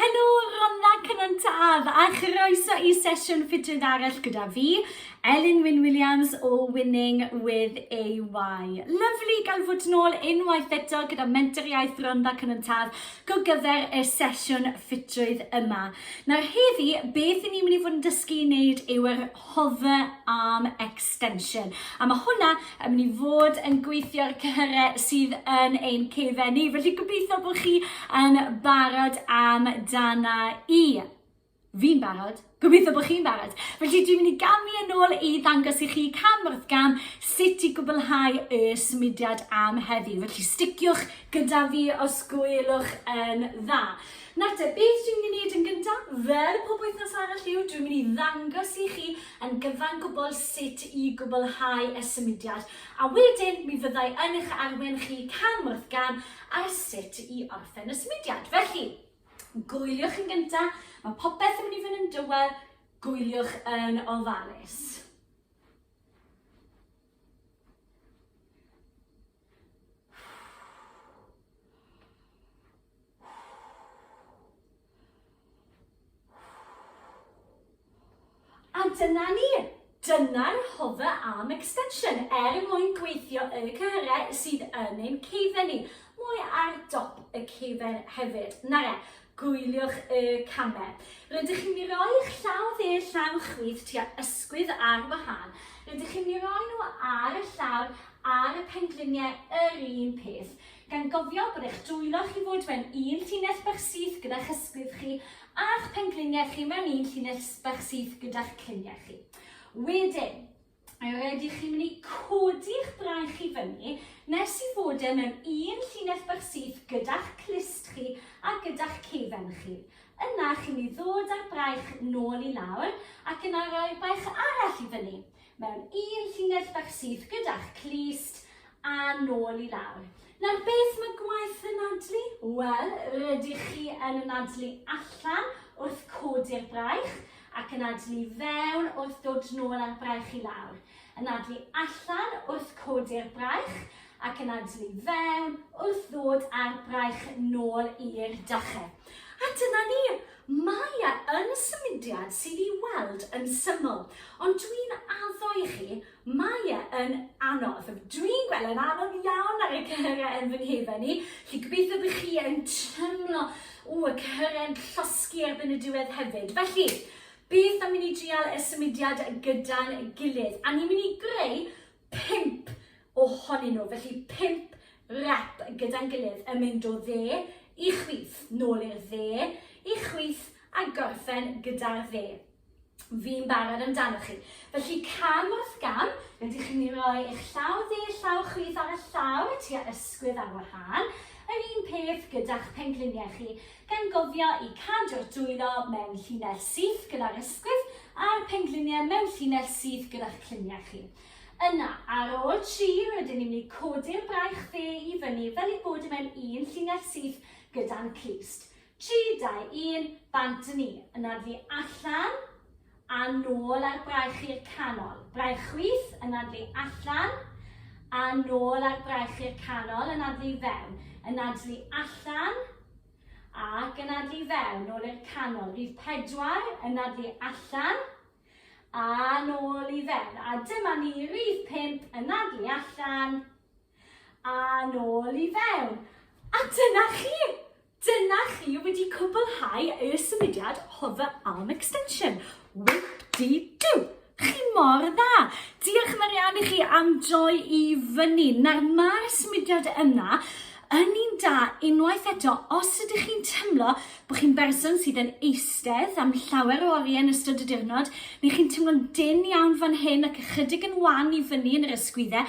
Helo, Rhondda Cynon Taf a chroeso i sesiwn ffitrwydd arall gyda fi, Elin Wyn Williams o Winning with AY. Lyflu gael fod yn ôl unwaith eto gyda Mentor Iaith Rhondda Cynon Taf go gyfer y sesiwn ffitrwydd yma. Nawr heddi, beth i ni'n mynd i fod yn dysgu i wneud yw yr Hover Arm Extension. A mae hwnna yn mynd i fod yn gweithio'r cyhyrau sydd yn ein cefen ni. Felly gobeithio bod chi yn barod am dana i. Fi'n barod. Gobeithio bod chi'n barod. Felly dwi'n mynd i gamu yn ôl i ddangos i chi cam wrth gam sut i gwblhau y symudiad am heddi. Felly sticiwch gyda fi os gwelwch yn dda. Nawr te, beth dwi'n mynd i wneud yn gyntaf, fel pob wythnos arall yw, dwi'n mynd i ddangos i chi yn gyfan gwbl sut i gwblhau y symudiad, a wedyn mi fyddai yn eich arwen chi cam wrth gam ar sut i orffen y symudiad. Felly, gwyliwch yn gyntaf, mae popeth yn mynd i fynd yn dywel, gwyliwch yn ofalus. A dyna ni! Dyna'r hover arm extension er mwyn gweithio y cyhyrau sydd yn ein ceifen ni. Mwy ar dop y ceifen hefyd. Na re, gwyliwch y camau. Rydych chi'n mynd i roi eich llaw dde llaw chwith tua ysgwydd ar wahân. Rydych chi'n mynd i roi nhw ar y llawr ar y pengliniau yr un peth, gan gofio bod eich dwylo chi fod mewn un llinell bach syth gyda'ch ysgwydd chi a'ch pengliniau chi mewn un llinell bach syth gyda'ch cliniau chi. Wedyn, rydych chi'n mynd i codi'ch braich i fyny nes i fod e mewn un llinell bach syth gyda'ch clust chi a gyda'ch ceifen chi. Yna chi'n mynd i ddod â'r braich nôl i lawr ac yna roi'r braich arall i fyny. mewn un llinell fach syth gyda'ch clust a nôl i lawr. Nawr beth mae gwaith y nadlu? Wel, rydych chi yn nadlu allan wrth codi'r braich ac yn nadlu fewn wrth dod nôl â'r braich i lawr. Yn nadlu allan wrth codi'r braich ac yn nadlu fewn wrth ddod â'r braich nôl i'r dachau. A dyna ni! Mae e yn symudiad sydd i weld yn syml, ond dwi'n addo i chi, mae e yn anodd. Dwi'n gweld e'n anodd iawn ar y cyhyriau yn fy nhefen i, lle gobeithio bych chi yn trymlo o y cyhyriau'n llosgi erbyn y diwedd hefyd. Felly, beth am i ni drial y symudiad gyda'n gilydd? A ni'n mynd i greu pump ohonyn nhw, felly pump rep gyda'n gilydd yn mynd o dde i chwith, nôl i'r dde, i chwith a gorffen gyda'r dde. Fi'n barod amdanoch chi. Felly cam wrth gam, rydych chi'n ei roi eich llaw dde, llaw chwith ar y llaw y tua ysgwydd ar wahân. Yr un peth gyda'ch pengliniau chi. gan gofio i cadw'r dwylo mewn llinell syth gyda'r ysgwydd a'r pengliniau mewn llinell syth gyda'ch cluniau chi. Yna, ar ôl tri, rydyn ni'n mynd i codi'r braich dde i fyny fel ei bod e mewn un llinell syth gyda'n clust. Tri, dau, un, bant â ni. Yna ddu allan. a nôl ar braich i'r canol, braich chwith, yn addu allan, a nôl ar braich i'r canol, yn addu i fewn, yn addu allan, ac yn addu i fewn, nôl i'r canol, rhif pedwar, yn addu allan, a nôl i fewn, a dyma ni rhif pump, yn addu allan, a nôl i fewn. A dyna chi! Dyna chi wedi cwblhau y symudiad Hover Arm Extension. Whoop-dee-doo! Chi mor dda! Diolch Marianne i chi am droi i fyny. Nawr mae'r symudiad yna yn un da unwaith eto os ydych chi'n teimlo bod chi'n berson sydd yn eistedd am llawer o oriau yn ystod y diwrnod neu chi'n teimlo'n dyn iawn fan hyn ac ychydig yn wan i fyny yn yr ysgwyddau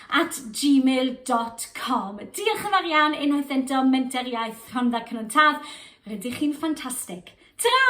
at gmail dot com. Diolch yn fawr iawn unwaith eto Menter Iaith Rhondda Cynon Taf. Rydych chi'n ffantastig. Ta-ra!